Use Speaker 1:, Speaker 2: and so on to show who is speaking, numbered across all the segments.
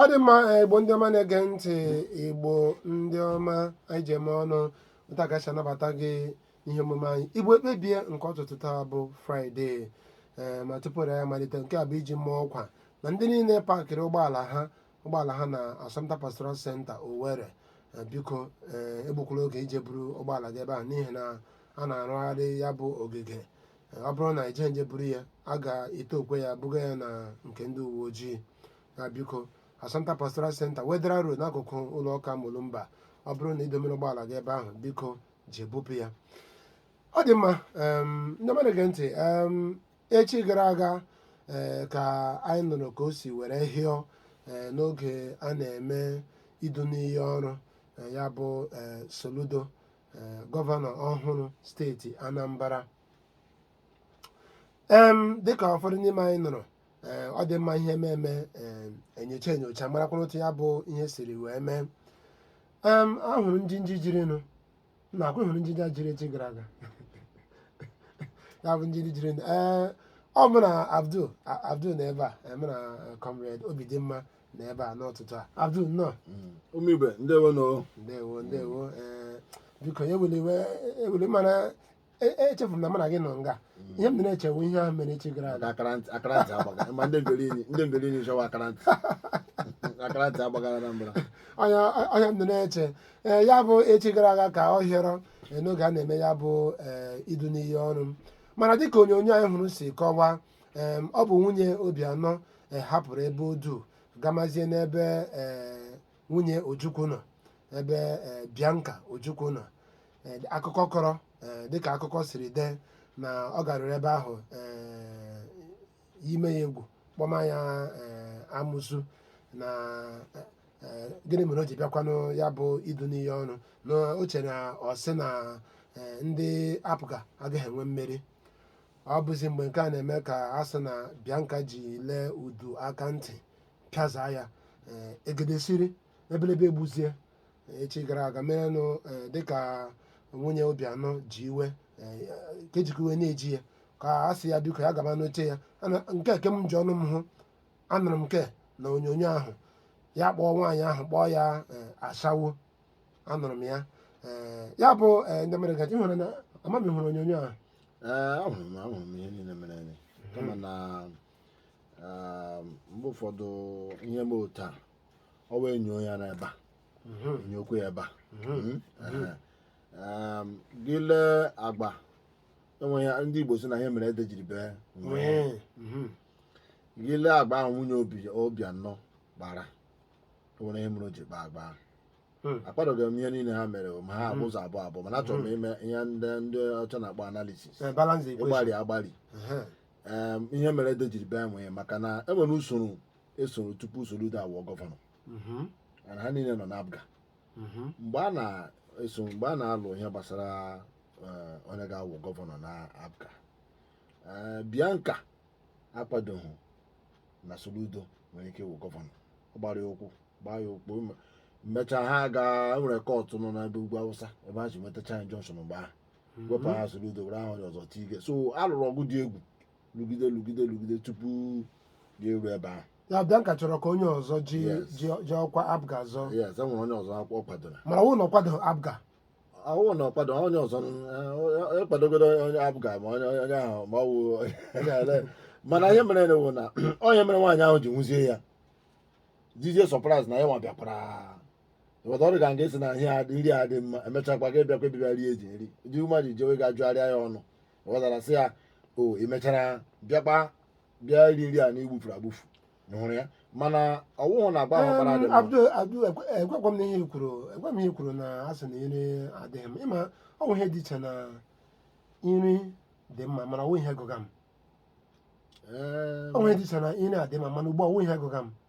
Speaker 1: ọ dị mma eh, igbo ndị ọma na-ege ntị igbo ndị ọma anyị ji eme ọnụ otu a ka esi anabata gị ihe omume anyị igbo ekpebie nke ụtụtụ taa bụ fraịde ee ma tupu ya malite nke a bụ iji maa ọkwa na ndị niile pakịrị ụgbọala ha ụgbọala ha na Assumpta Pastoral Center Owerri Eh, biko eh, egbukwala oge ije buru ụgbọala gị ebe ahụ n'ihi na a na-arụgharị ya bụ ogige Eh, ọ bụrụ na i jeghị jee buru ya a ga-etookwa ya buga ya na nke ndị uwe ojii na biko Assumpta Pastoral Center Wetheral Road n'akụkụ ụlọ ụka Mulumba ọ bụrụ na i domere ụgbọala gị ebe ahụ biko jee bupụ ya ọ dị mma em, ndị ọma na-ege ntị em, echi gara aga ee ka anyị nụrụ ka o si were hịọ ee n'oge a na-eme idu n'iyi ọrụ ee, ya bụ ee Soludo ee gọvanọ ọhụrụ steeti Anambra em dịka ụfọdụ n'ime anyị nụrụ ee ọ dị mma ihe ememe ee enyocha enyocha marakwana otu ya bụ ihe siri wee mee em a hụrụ njinji jirinụ na akwụ hụrụ njinji jiri echi gara aga ya bụ njinji jirinụ ee ọ mụ na abdul A- abdul nọ ebe a ee, mụ na eh, comrade Obidimma nọ ebe a n'ụtụtụ a abdul nnọọ ụmụ
Speaker 2: Igbo ndewonụ ndewo ndewo
Speaker 1: ee biko ewela iwe eweli mana E- echefuru m na mụ na gị nọ nga ihe m dị na-echewu ihe ahụ mere echi gara aga akara ntị akara ntị
Speaker 2: agbaga ma ndị ngere inyi ndị ngere inyi chọwa akara ntị akara ntị agbagara na mbara ọnya ọnya m dị
Speaker 1: na-eche ee ya bụ echi gara aga ka ọ hịọrọ ee, n'oge a na-eme ya bụ ee, idu n'iyi ọrụ mana dịka onyonyo anyị hụrụ si kọwaa ee, ọ bụ nwunye Obiano ee, hapụrụ ebe ọ dụ gamazie n'ebe ee, nwunye Ojukwu nọ ebe eh, Bianca Ojukwu nọ Eh, akụkọ kọrọ eh, dịka akụkọ siri dee na ọ garuru ebe ahụ eh, ime ya egwu kpọma ya eh, amụsu na eh, eh, gịnị mere o ji bịakwanụ ya bụ idu n'iyi ọrụ na o chere na ọ sị na eh, ndị APGA agaghị enwe mmeri ọ bụzi mgbe nke a na-eme ka a sị na Bianca ji lee udu aka ntị pịazaa ya ee, egede siri ebelebe egbuzie ee, echi gara aga merenụ ee, dịka nwunye Obiano ji iwe ee, ka ejikwa iwe na-eji ya ka a sị ya biko ya gaba n'oche ya Ana- nke a ke m ji ọnụ m hụ anụrụ m nke na onyonyo ahụ ya kpọọ nwaanyị ahụ kpọọ ya ee, ashawo anụrụ m ya ee, ya bụ ee, ndị mere gaji hụrụ na amaghị ma ị hụrụ onyonyo ahụ Ee, ahụrụ m
Speaker 2: ahụrụ m ihe niile mere eme kama na um, mgbe ụfọdụ ihe mee otu a ọwụ e nyoo ya n'ebe a mhm. nyokwa ya ebe a mhm. Hmm? Mhm. Um, gị lee agba eh, ndị Igbo sị na ihe mere ede jiri bee nwii gị lee agba ahụ nwunye Obiano kpara enwere ihe mere o ji kpa agba ahụ Hmm. akpadoghị m ihe niile ha mere ma ha hmm. ụzọ abụọ abụọ mana achọrọ m hmm. ime ihe ndị ndị ọcha na-akpọ analysis ịgbari agbari ihe mere ede jiri bee nwii maka na e nwere usoro esoro tupu Soludo awụọ gọvanọ mana ha niile nọ n'APGA mgbe a na-eso mgbe a na-alụ ihe gbasara eh, onye ga-awụ gọvanọ na APGA Eh, Bianca akwadoghị na Soludo nwere ike ịwụ gọvanọ ọ gbara ya ụkwụ gbaa ya ụkwụ mechaa ha gaa e nwere kọtụ nọ n'ebe ugwu Awụsa ebe ha ji nwetacha injunction mgbe ahụ mhm. wepụ aha Soludo were aha onye ọzọ tinye so a lụrụ ọgụ dị egwu lụgide lụgide lụgide tupu ya eru ebe ahụ ya Bianca chọrọ ka
Speaker 1: onye ọzọ ji ji ọkwa APGA zọọ yes enwere onye ọzọ
Speaker 2: ọ kwadoro mana ọwụ na ọ kwado APGA
Speaker 1: ọwụ
Speaker 2: na ọ kwado onye ọzọ ekwadogodo eh, onye APGA ma onye onye ahụ ma ọwụ mana ihe mere na na ọwụ ihe mere nwaanyị ahụ ji hụzie ya dịzie surprise na ya nwa bịakwara ịghọta ọ dị ka gị sị na ihe adị nri adị mma emechakwa gị bịakwa bịa iri nri ndị mmadụ jewe ga-ajụgharịa ya ọnụ ịghọtara sị ya o ị mechara bịakwa bịa iri nri a na ị gbụfuru agbụfu ị hụrụ ya mana ọwụhụ na agba ahụ ọ kpara dị mma Abdul Abdul
Speaker 1: ekwekwa m na ihe i kwuru ekwe m ihe i kwuru na a sị na nri adịghị mma ọ bụ ihe dị iche na nri dị mma mana ọwụ ihe gụga m Ee, ọ bụ ihe dị iche na nri adị mma mana ugbu a ọwụ ihe gụga m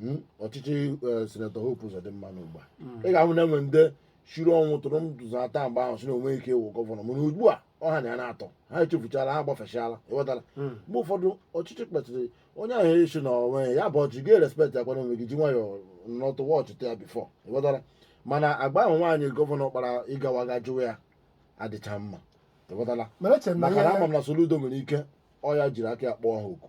Speaker 2: Hmm? ọchịchị eh, sinetọ Hope Uzodimma ugbu a hmm. ị ga-ahụ na enwe ndị shiri ọnwụ tụrụ ndụ ata mgbe ahụ sị na o nwe ike ịwụ gọvanọ mana ugbu a ọ ha na ya na-atọ ha echefuchala ha gbafechala ịghọtara hmm. mgbe ụfọdụ ọchịchị kpetụrụ onye ahụ esi na onwe ya bụ ọchị gị respect ya kwana onwe gị ji nwayọọ nọtụ watchịta ya before ịghọtara mana agba ahụ nwaanyị gọvanọ kpara ịgawa ga jụwa ya adịcha mma ịghọtara maka na ama m na Soludo nwere ike ọ ya jiri aka ya kpọọ ha oku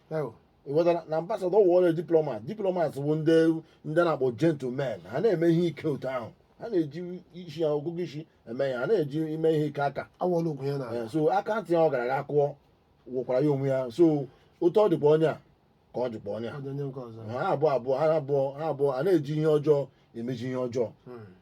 Speaker 2: ịghọtara na ambassador wụọla diplomat diplomat bụ ndị ndị na-akpọ gentlemen ha na-eme ihe ike otu ahụ ha na-eji isi ya ọgụgụ isi eme ihe ha na-eji eme ihe ike aka awọla okwu ya na Eh, so aka ntị a ọ gara ga kụọ wụkwara ya onwe ya so otu ọ dịkwa onye a ka ọ dịkwa onye a ọdịnye nke ọzọ ha abụọ abụọ ha abụọ ha abụọ a na-eji ihe ọjọọ na-emeji ihe ọjọọ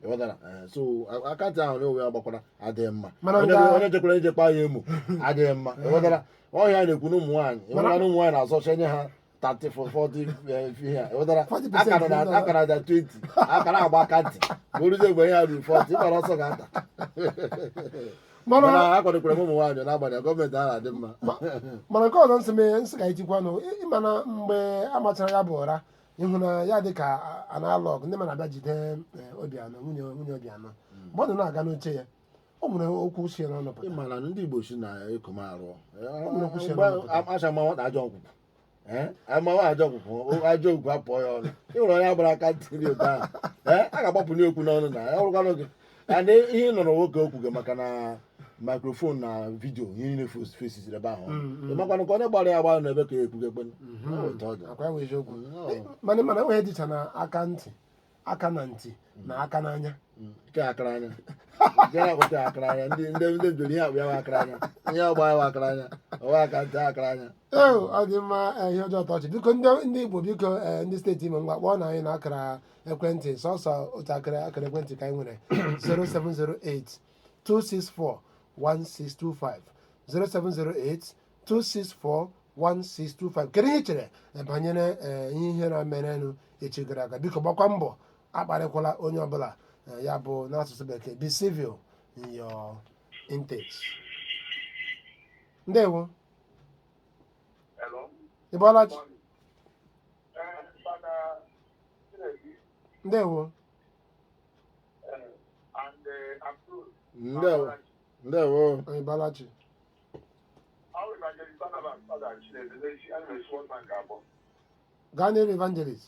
Speaker 2: ịghọtara Eh, so a- aka ntị ahụ na onwe ya gbakwara adịghị mma Mana onye nga- onye jekwara ije kpaa ya emo adịghị mma ịghọtara ọ ihe a na-ekwu na ụmụ nwaanyị ịghọtara na ụmụ nwaanyị na-azọcha nye ha 30 for 40 eh, ihe a, ịghọtara 40% akara na- ịghọtara. akara na 20 akara agba aka ntị ma o ruzie mgbe ihe a ruru 40 ịgbara ọsọ ga-ata mana mana akwadokwara m ụmụ nwaanyị n'agbanyeghị gọọmenti a na-adị mma mana nke ọzọ
Speaker 1: m sị mee m sị ka itikwa nụ ị ma na mgbe a machara ya bụ ụra ị hụ na ya dị ka a na-alụ ọgụ ndị mmadụ abịa jide eh, obiano nwunye nwunye obiano mgbe ọ nọ na-aga n'oche ya o nwere okwu si ya n'ọnụ pụta ị mara na ndị igbo sị na
Speaker 2: ekom arụ acha ma nwata ajọ nkwụkwụ Eh, amawa ajọ nkwụkwụ o- ajọ okwu apụọ ya ọnụ ị nwere onye a gbara aka ntị otu ahụ Eh, a ga-agbapụ n'okwu n'ọnụ na ya ọrụkwanụ gị and ihe nọrọ nwoke okwu gị maka na microphone na vidio ihe niile fos- fesiziri ebe ahụ ị makwanụ ka onye gbara ya gbara n'ebe ka ya ekwugo ekpenu otu ọ dị akwa enwe eziokwu Nnọọ. Eh,
Speaker 1: mana mana enweghị dịcha na aka ntị aka na ntị na aka n'anya nke akara
Speaker 2: anya nke na-akpọta ya akara anya ndị ndị ndị bidoro ihe akpọ ya bụ akara anya ihe ọ gba ya bụ akara anya ọ wụ aka ntị akara anya ee ọ dị mma
Speaker 1: eh, ihe ọjọọ tọchị biko ndị ndị igbo biko eh, ndị steeti imo ngwa kpọọnụ anyị na akara ekwentị sọsọ otu akara akara ekwentị ka anyị nwere 0708 264 1625 0708 264 1625 kedu ihe i chere eh, banyere eh, ihe ihere a merenụ echi gara aga biko gbakwa mbọ akparịkwala onye ọbụla eh, ya bụ n'asụsụ bekee be civil in your intake ndewo Hello. ịbọọla chi ndewo
Speaker 2: ndewo ndewo ịbọọla
Speaker 1: chi gaa n'iru evangelist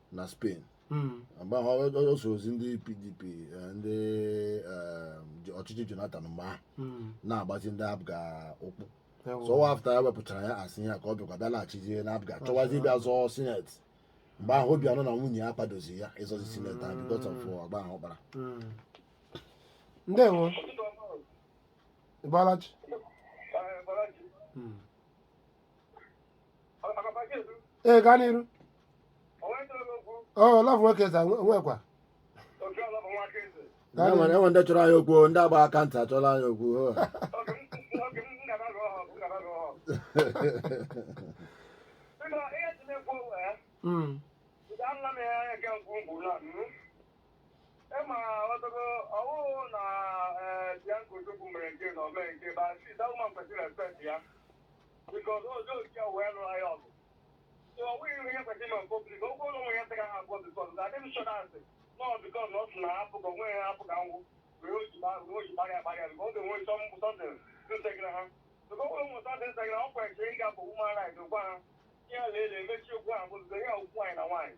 Speaker 2: na spain Mm. mgbe ahụ ọ- ọ- ọ sorozi ndị pdp eh, ndị eh, ji- ọchịchị jonathan mgbe ahụ Mm. na-agbazi ndị apga ụkwụ Ewo. so ọ wụ after e wepụchara ya as ihe a ka ọ bịakwa bịa laghachizie na apga chọwazi ịbịa zọọ sineti mgbe ahụ obiano na nwunye ya akwadozi ya ịzọzi sineti ahụ because of agwa ahụ ọ kpara Mm. ndewo
Speaker 1: ịbọọla chi Mm. ee gaa n'iru ọ love nwoke eze nwekwa
Speaker 2: Gaa n'iru. enwe ndị chọrọ anyị okwu ndị agba aka ntị achọrọ anyị okwu ho. Mm.
Speaker 3: Instagram, ọ kwesịrị ịga bụ ụmụ ara gwa ha ihe a na-ele emechi okwu ahụ bụ ya okwu anyị na nwaanyị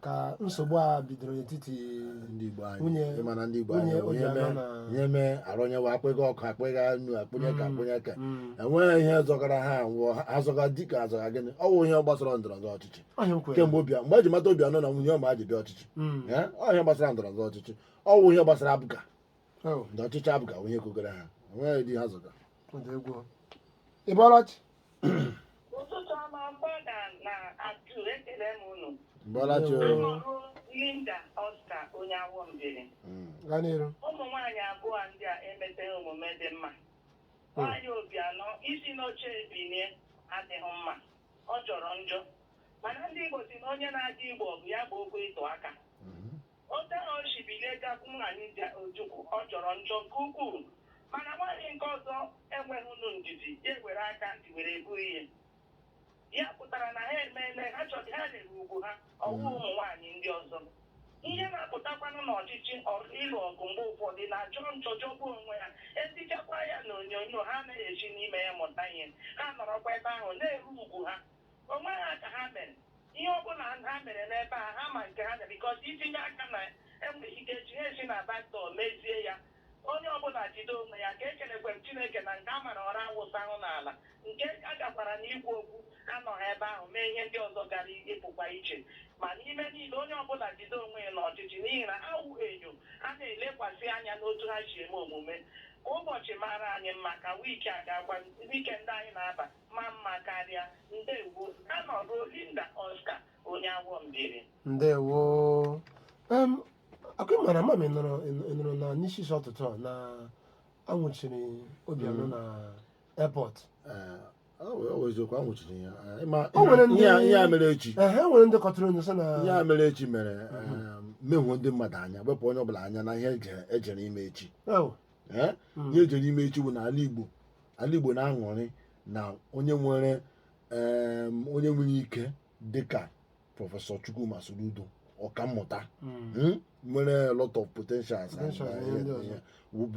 Speaker 1: ka nsogbu a bidoro n'etiti ndị Igbo
Speaker 2: anyị Nwunye- ịma na ndị
Speaker 1: Igbo nwunye
Speaker 2: anyị onye Obiano mee
Speaker 1: na- onye mee
Speaker 2: arụnyewa akpịga ọkụ akpịga nnu akpụnye ka akpụnye ka Mm. enweghị ihe zọgara ha nwụọ ha azọga dịka azọga gịnị ọ bụ ihe gbasara ndọrọ ndọrọ ọchịchị ọ ihe m kwere kemgbe
Speaker 1: obi mgbe eji mata
Speaker 2: Obiano na nwunye ya ji bịa ọchịchị Mm. Eh, ọ ihe gbasara ndọrọ ndọrọ ọchịchị ọ bụ ihe gbasara APGA Oh, ndị ọchịchị
Speaker 1: APGA bụ
Speaker 2: ihe kogara ha enweghị di ha zọga ọ dị egwu
Speaker 1: ị bọọla chi
Speaker 4: ụtụtụ ọma fada na atu ekele m unu Bọọla chi o. Anọrụ Linda Oscar onye Awọ Mbieri Mm. gaa n'iru
Speaker 1: ụmụ nwaanyị abụọ
Speaker 4: ndị a emeteghị omume dị mma nwaanyị Obiano isi n'oche ebinie adịghị mma ọ jọrọ njọ mana ndị Igbo sị na onye na-adị igbo ọgụ ya gboo okwu ịtụ aka Otu ahụ o si bilie gakwuru nwaanyị Dim Ojukwu, ọ jọrọ njọ nke ukwuu. Mana nwaanyị nke ọzọ enweghịnụ ndidi, ya ewere aka ntị were ekwu ihe. Ya pụtara na ha emeela ha chọrọ ha na-eru ugwu ha, ọ wụ ụmụ nwaanyị ndị ọzọ. Ihe na-apụtakwanụ n'ọchịchị ọrụ ịlụ ọgụ mgbe ụfọdụ na-ajọ njọ jọgbuo onwe ha. Etichakwa ya n'onyonyo, ha anaghị esi n'ime ya mụta ihe. Ha nọrọkwa ebe ahụ na-eru ugwu ha. Onwe ha ka ha mere. Ihe ọ bụla ha mere n'ebe a, ha ma nke ha mere because itinye aka na e nwere ike echi ha esi na back door mezie ya. Onye ọ bụla jide onwe ya. Ka ekelekwe m Chineke na nke a mara ụra awụsahụ n'ala. Nke a gakwara n'ikwu okwu anọghị ebe ahụ mee ihe ndị ọzọ gara ịpụkwa iche. Ma n'ime niile, onye ọ bụla jide onwe ya n'ọchịchị n'ihi na ha wụ enyo a na-elekwasị anya n'otu ha si eme omume. Ka ụbọchị mara anyị mma, ka wiiki a gaakwa, weekend anyị na-aba. ma mma karịa ndewo
Speaker 1: Anọrụ Linda Oscar onye Awọ Mbieri ndewo em ka m mara ma ị nụrụ ị nụrụ na n'isi isi ụtụtụ a na anwụchiri Obiano na airport Ee,
Speaker 2: ọ wụ- ọ wụ eziokwu anwụchiri ya Ee, ma- O nwere ndị-
Speaker 1: ihe a- ihe a mere echi
Speaker 2: ehe e nwere ndị kọtụrụ
Speaker 1: onye sị na ihe a mere echi
Speaker 2: mere em, mehuo ndị mmadụ anya wepụ onye ọbụla anya na ihe eje- ejere ime echi Ew, Ee,
Speaker 1: Mm. ihe
Speaker 2: ejere ime echi bụ na ala Igbo ala Igbo na-aṅụrị na onye nwere onye nwere ike dịka prọfesọ Chukwuma Soludo ọkammụta hmm. hmm, nwere lot of potentials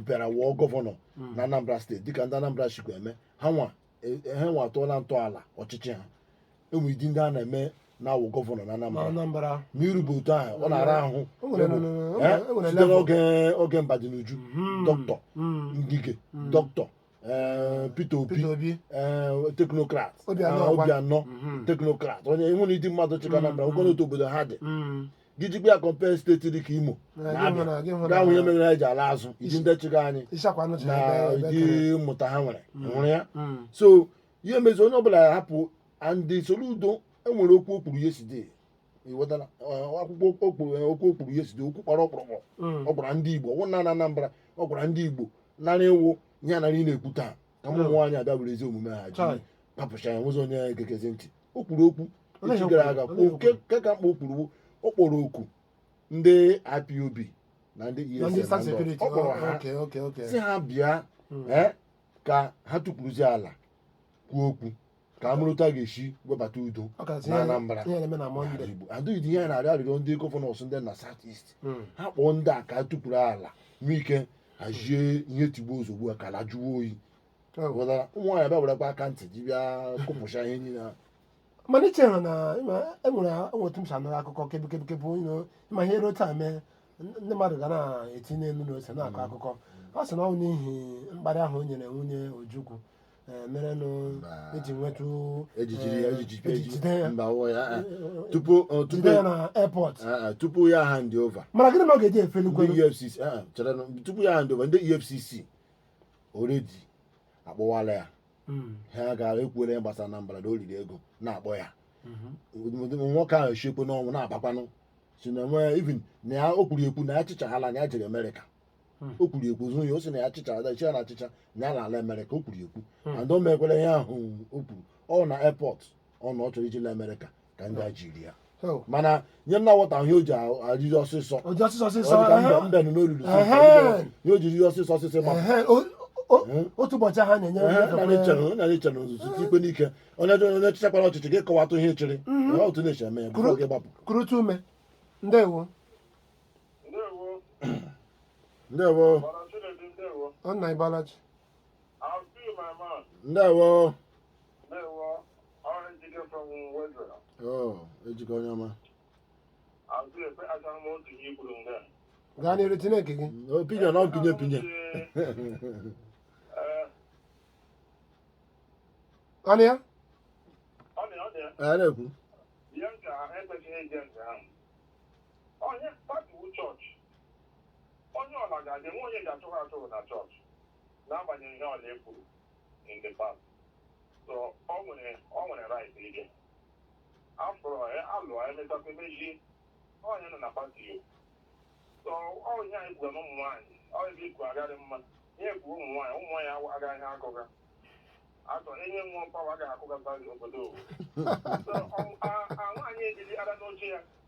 Speaker 2: bịara wụọ gọvanọ hmm. na Anambra steeti dịka ndị Anambra shikwa eme ha nwa e, e, ha nwa atụọla ntọala ọchịchị ha enwere ụdị ndị a na-eme na-awụ gọvanọ na Anambra
Speaker 1: ma irube otu
Speaker 2: ahụ ọ na-ara
Speaker 1: ahụ site
Speaker 2: n'oge oge Mbadinuju hmm. dọkịta hmm. Ngige hmm. dọkịta eh, Peter Obi eh, teknokrat Obiano ah, teknokrat onye enwere ụdị mmadụ chịga Anambra ogono otu obodo ha dị gị jikwa ya kọmpee steeti dị ka Imo na Abịa ihe mere ha ji ala azụ ụdị ndị chịga anyị na ụdị mmụta ha nwere nwere ya so ihe mezi onye ọbụla hapụ and Soludo e nwere okwu o kwuru yesterday iwetara akwụkwọ o kwuru okwu o kwuru yesterday okwu kpọrọ ọkpụrụkpụ Mm. ọ gwara ndị Igbo ọ wụghị naanị Anambra ọ gwara ndị Igbo nara ịwụ ihe a nara ị na-ekwu taa ka ụmụ nwaanyị abịa were ezi omume ha ji Chai. papụcha ya nwezi onye gekezi ntị o kwuru okwu Olee echi ihe gara o aga kwuru? kwuo Olee ihe o nke ka mkpa o kwuru bụ ọ kpọrọ oku ndị IPOB na ndị na ndị ESN staff na ndị sekuriti ọ kpọrọ ha okay okay okay sị ha bịa Mm. ee, ka ha tukwuruzie ala kwuo okwu ka a mụrụ otu a ga-esi webata udo Ọ ka sị na ihe- Anambra ihe na-eme na Mọnde. Igbo adịghị ihe a na-arịọ arịrịọ ndị gọvanọs ndị na South East Mm. ha kpọọ ndị a ka a tukwuru ala nwee ike hazie ihe tigbuo zogbuo a ka ala jụọ oyi Oh. ghọtara ụmụ nwaanyị bịa werekwa aka ntị ji bịa kụpụcha ihe niile ahụ. mana i
Speaker 1: chere na ị ma, e nwere otu m si anụrụ akụkọ kebikebikebụ you know ị ma ihe dị otu a mee n- ndị mmadụ ga na-etinye nnu na ose na-akọ akụkọ ọ sị na ọ bụ n'ihi mkparị ahụ o nyere nwunye Ojukwu eh, merenụ Mba. e ji nwetụ e ji jiri ya eh, e ji jide e ji jide ya mba wụọ ya eh, eh. tupu eh, tupu jide ya na airport eh, eh, tupu ya hand
Speaker 2: over mana gịnị mere ọ ga-eji efeli ndị
Speaker 1: kwelu EFCC eh, eh, chere
Speaker 2: nụ, tupu ya hand over ndị EFCC already akpọwala ya Mm, ha gara ekwuola ya gbasara na mbara na o riri ego na-akpọ ya mhm. nwoke ahụ esiekwanụ ọnwụ na mbakwanụ sị na nwee even na ya o kwuru ekwu na ya chịchaa ga-ala na ya jere Amerịka Hmm. o kwuru ekwu zụ ya ọ sị na ya chịchaa ada iche na a chịchaa ya na-ala Amerịka o kwuru ekwu hmm. and o mekwere ihe ahụ o kwuru ọ na airport ọ nọ ọ chọrọ iji la Amerịka ka ndị a jiri ya oh. mana ihe m na-awọta ihe o ji arịrị ọsịsọ mbe nọ n'olulu ihe o jiri ọsịsọ ọsịsọ ma
Speaker 1: hmm? otu ụbọchị ha
Speaker 2: na-enye na-eche na ozuzu ikpe n'ike onye chịchakwara ọchịchị gị kọwatụ ihe ị chịrị otu na-eche eme ya gị gbapụ kurutu ume
Speaker 1: ndewo ndewo nna ị bọọla
Speaker 2: chi ndewo oh, Ejike onye ọma
Speaker 1: gaa n'iru tinye nke gị opinion na opinion tinye ọnụ ya ọ na-ekwu
Speaker 3: Onye pati wụ chọọchị, onye ọla ga-aga e nweghị onye eji achụ achụ na chọọchị n'agbanyeghị ihe ọla e kwuru in the past. So ọ nwere ọ nwere right ije. Afọrọ ya alụọ emechakwa emeji onye nọ na pati yo. So ọ ihe anyị kwuga na ụmụ nwaanyị ọ ebe ikwu agarị mma ihe ekwu ụmụ nwaanyị ụmụ nwaanyị awa- agaghị ha akụga. Atọ enye nwa mpawa agaghị akụga pati obodo. So ọ- a- a nwaanyị ejiri ara n'oche ya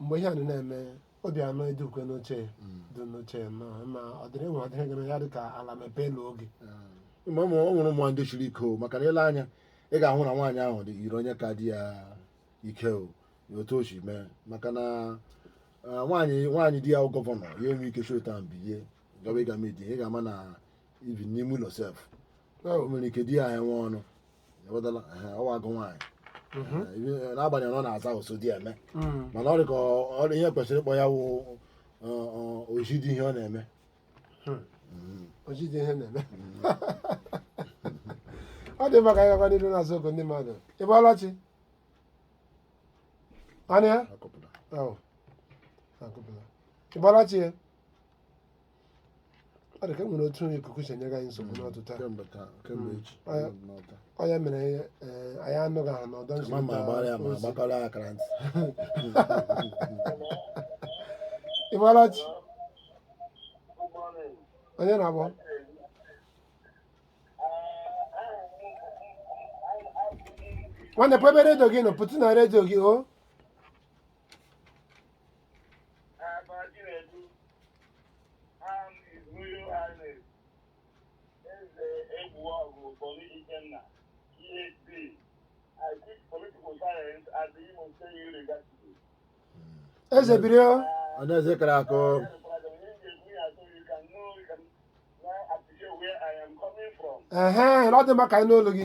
Speaker 1: mgbe ihe a nọ na-eme Obiano dịkwa n'oche ya Mm. dị n'oche ya nọ ma ọ dịrị nwa adịrị gị na ya dị ka ala mepee n'oge Mm. ma ụmụ
Speaker 2: o nwere ụmụ nwaanyị ndị shiri ike o maka na ile anya ị ga-ahụ na nwaanyị ahụ yiri onye ka di ya ike o ya otu o si mee maka na ah, nwaanyị nwaanyị di ya bụ gọvanọ ya enwe ike shi otu a bilie gawa ịga midi ị ga-ama na even n'ime ụlọ sef o nwere ike di ya enwe ọnụ ewedala ehe, ọ wụ agụ nwaanyị Mhm. Eh, ibe- n'agbanyeghị na ọ na-aza Osodieme Mm. mana ọ dị ka ọ- ọ- ihe kwesịrị ịkpọ ya wụ oji di ihe ọ na-eme
Speaker 1: oji di ihe ọ na-eme ọ dị mma ka anyị gakwa n'iru na-aza oku ndị mmadụ ị bọọla chi anụ ya Akọpụta. Oh, akụpụla. Ị bọọla chi ya ọ dị ka e nwere otu ikuku si enye anyị nsogbu n'ụtụtụ a kemgbe taa kemgbe echi Mm. anọ m n'ọta. ọ ya mere ee, anyị anụghị ha n'ọdọ ma ma agbara ya ma nzirịta ozi agbakọrọ ya akara ntị ị bọọla chi onye na-akpọ nwanne pụọ ebe redio gị nọ pụtụ na redio gị o eze biri o onye eze kara akụ ehe ọ dị mma ka anyị nụ olu gị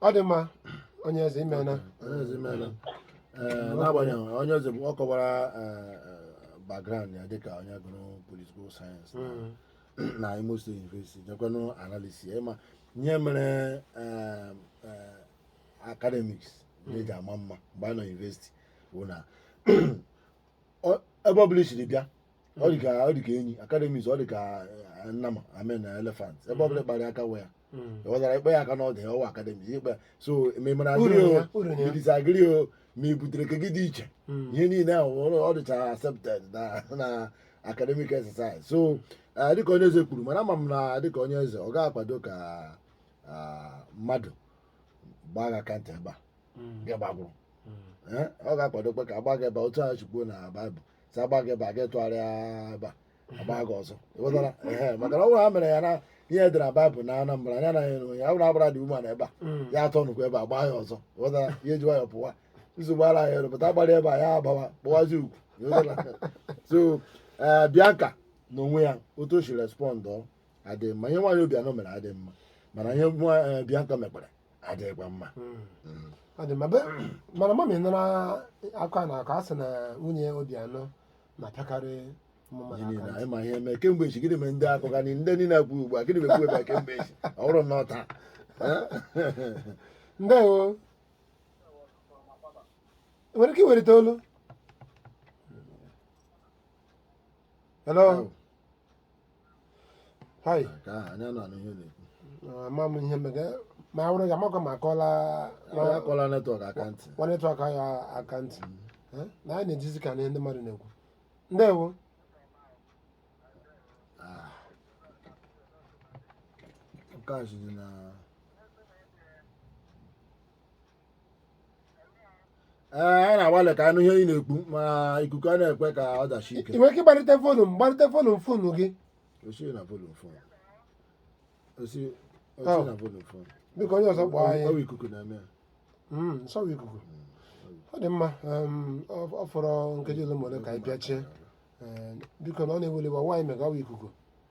Speaker 1: ọ dị mma onye eze imena Onye eze
Speaker 2: imela. Ee, n'agbanyeghị onye eze bụ- ọ kọwara background ya dịka onye gụrụ political science na Imo State University nyekwanụ analysis ị ma ihe mere eh, eh, academics na-eji ama mma mgbe a nọ university bụ na ọ- ebe ọ bụla i siri bịa ọ dị ka ọ dị ka enyi academics ọ dị ka eh, nnama I mean elephant ebe ọ bụla ị kpara aka ọ wụ ya Mm. ị ghọtara ị kpa ya aka n'ọdụ ya ọ wụ academics ikpe so ma ị mara ị agree ya, o uru ya. ị disagree o ma i butere nke gị dị iche Mm. ihe niile ahụ ọ- ọ dịcha accepted na na academic exercise so eh, dịka onye eze kwuru mana ama m na dịka onye eze ọ ga-akwado ka ah, mmadụ gbaa gị aka ntị ebe a Mm. gị gbagwụrụ Mm. Eh, ọ ga-akwadokwa ka a gbaa gị ebe a, otu a chukwu na baịbụl sị a gbaa gị ebe a gị tụgharịa ebe a a gbaa gị ọzọ ị ghọtara ehe maka na ọ bụrụ ha mere ya na ihe e dere na baịbụl na anambra ya anaghị ere onye abụrụ abụra dị umeala ebe a ya atọ nụkwa ebe a gbaa ya ọzọ ị ghọtara ya eji nwayọ pụwa nsogbu ara ya elu pụta a gbara ebe a ya agbawa kpụwazi ugwu ị ghọtara so ee bianca na onwe ya otu o si respond ọ adị mma ihe nwaanyị obiano mere adị mma mana ihe nwa ee, bianca mekwara adịghịkwa mma Mm. Mm.
Speaker 1: Ọ dị mma. Be- mana ma m nụrụ akụkọ a na-akọ a sị na nwunye Obiano na-apịakarị ụmụ mmadụ Gịnị aka
Speaker 2: na ntị. anyị ma ihe eme kemgbe echi gịnị mere ndị akụkọ anyị ndị niile ekwu ugbu a gịnị mere kwuo ebe a kemgbe echi ọ bụrụ na ọ otu
Speaker 1: a ndewo ị nwere ike iwelite olu hello Hai. Ka anyị nụ
Speaker 2: ihe ị na-ekwu. Ama m ihe
Speaker 1: mega ma awụrụ gị amakwa ma akụọla Onye akụọla
Speaker 2: netwọk aka ntị. nwa netwọk ya
Speaker 1: aka ntị Eh, na anyị na-ejizi ka anụ ihe ndị mmadụ na-ekwu ndewo
Speaker 2: Ah. Nke a si dị na ee anyị na-agbalị ka a nụ ihe ị na-ekwu ma ikuku anaghị ekwe ka ọ dasie ike ị nwere ike ịgbalite volume
Speaker 1: gbalite volume fonu gị osi na volume
Speaker 2: fon osi osi Oh.
Speaker 1: na volume fon biko onye ọzọ kpọọ anyị ọ wụ ikuku na-eme
Speaker 2: ya Mm,
Speaker 1: ọ wụ ikuku ọ dị mma em, ọ ọ fọrọ nkeji ole ma ole ka anyị pịachie Ee, biko unu ewela iwe ọ wụghị anyị mega ọ wụ ikuku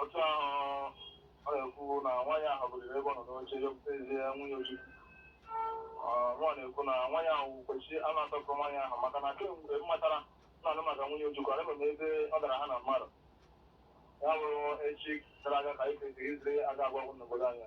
Speaker 3: otu ahụ ọ na-ekwu na nwaanyị ahụ biliri ebe ọ nọ n'oche ezie nwunye ojukwu nwa na-ekwu na nwaanyị ahụ kwesịrị a na-asọpụrụ nwaanyị ahụ maka na kemgbe m matara na-anụ maka nwunye ojukwu ahụbeghị m ebe ọ dara ha na mmadụ ya bụrụ echi gara aga ka anyị kwesịrị izere aga agwa ọgụ n'obodo anyị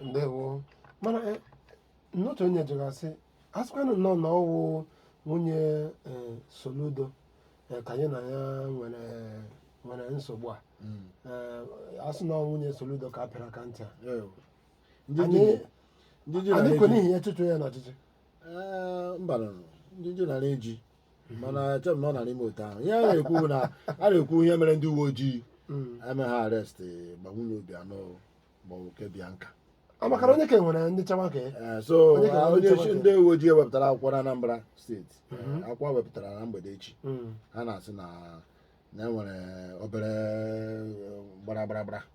Speaker 1: ndewo mana eh, n'otu onye jụrụ sị a sịkwanụ nnọọ na ọ wụ nwunye eh, soludo eh, ka ya na ya nwere nwere nsogbu a Eh, a sị na ọ wụ nwunye soludo ka a pịara aka ntị a Anyị- anyị kwe n'ihi ya chụtuo ya n'ọchịchị
Speaker 2: mba nụrụ ndị ji nara eji mana eche m na ọ nara eme otu ahụ ihe a na-ekwu bụ na a na-ekwu ihe mere ndị uwe ojii Mm. eme ha arrest ma nwunye Obiano ma oke Bianca ọ maka na onye ka
Speaker 1: nwere ndị nchekwa ka Onye ka nwere nchekwa ka- Eh, so ah, onye
Speaker 2: isi ndị uwe ojii wepụtara akwụkwọ na Anambra steeti Eh, akwụkwọ a wepụtara na mgbede echi ha na-asị na na e nwere obere eh, gbara gbara gbara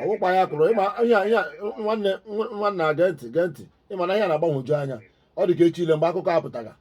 Speaker 3: ọ wụkwa
Speaker 2: ya kụrụ ị ma ihe ihe nwanne nwanne a gee ntị gee ntị ị ma na ihe a na-agbanwoju anya ọ dị ka echi ile mgbe akụkọ a pụtara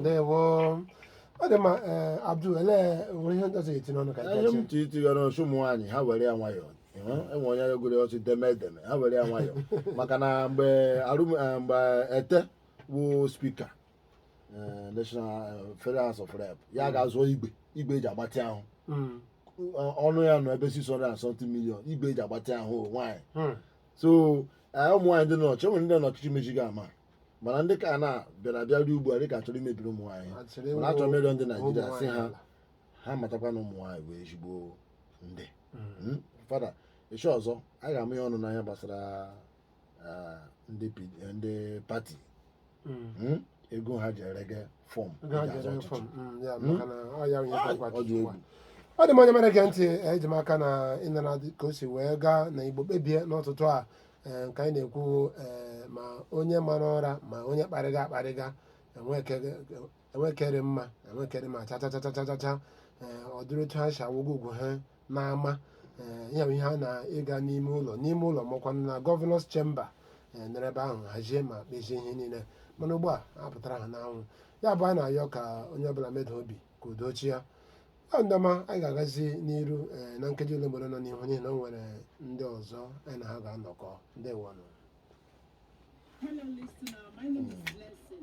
Speaker 1: ndewo ọ dị mma ee Abdul elee nwere ihe ndị ọzọ etinye ọnụ ka ihe m gachi tụ itigara
Speaker 2: ọchụ ụmụ nwaanyị ha were ya nwayọọ ịhụ, enwe onye egwuri ọchụ deme edeme ha were ya nwayọọ maka na mgbe arum eh, mgbe Etteh wụ speaker eh, national eh, federal house of rep ya ga-azụọ igwe igwe eji agbatị ahụ Mm, Ọ- ọnụ ya nọ ebe 600 and something million igwe eji agbatị ahụ nwaanyị mm, so eh, ụmụ nwaanyị ndị nọchị e nwere ndị n'ọchịchị mechi ga ama mana ndị ka na bịara abịa ruo ugbu a dịka ha chọrọ imebiri ụmụ nwaanyị mana achọrọ m ịrịọ ndị Naịjirịa sị ha ha matakwa na ụmụ nwaanyị bụ ezigbo ndị Mm, fada echi ọzọ a ga-ama ya ọnụ n'ihe gbasara ah, ndị P- eh, ndị party Mm. Mm, ego ha ji erege form Ego ha ji ere form, mm, ya, maka na ọ ya onye
Speaker 1: ga-agwa ọ dị Chukwu a. egwu ọ dị mma onye na-ege ntị eji m aka na ị nụla dị ka o si wee gaa na Igbo kpebie n'ụtụtụ a ee, nke anyị na-ekwu ee, ma onye mara ụra ma onye kparịga akparịga enwekere mma enwekere ma chachachachachacha ee, ọ dịrị otu ha si awụgo ugwu ha n'ama ee, ya bụ ihe ha na-ịga n'ime ụlọ n'ime ụlọ ma ọ kwanụ na governor's chamber ee, nọrọ ebe ahụ hazie ma kpezie ihe niile mana ugbu a apụtara ha n'anwụ ya bụ a na-ayọ ka onye ọbụla meda obi ka udo chịa ọ ndị ọma anyị ga-agazi n'iru eh, na nkeji olemole nọ n'ihu n'ihi na o nwere ndị ọzọ anyị na ha ga-anọkọ ndewo nụ
Speaker 5: Hello, listener.
Speaker 1: My name is Blessing.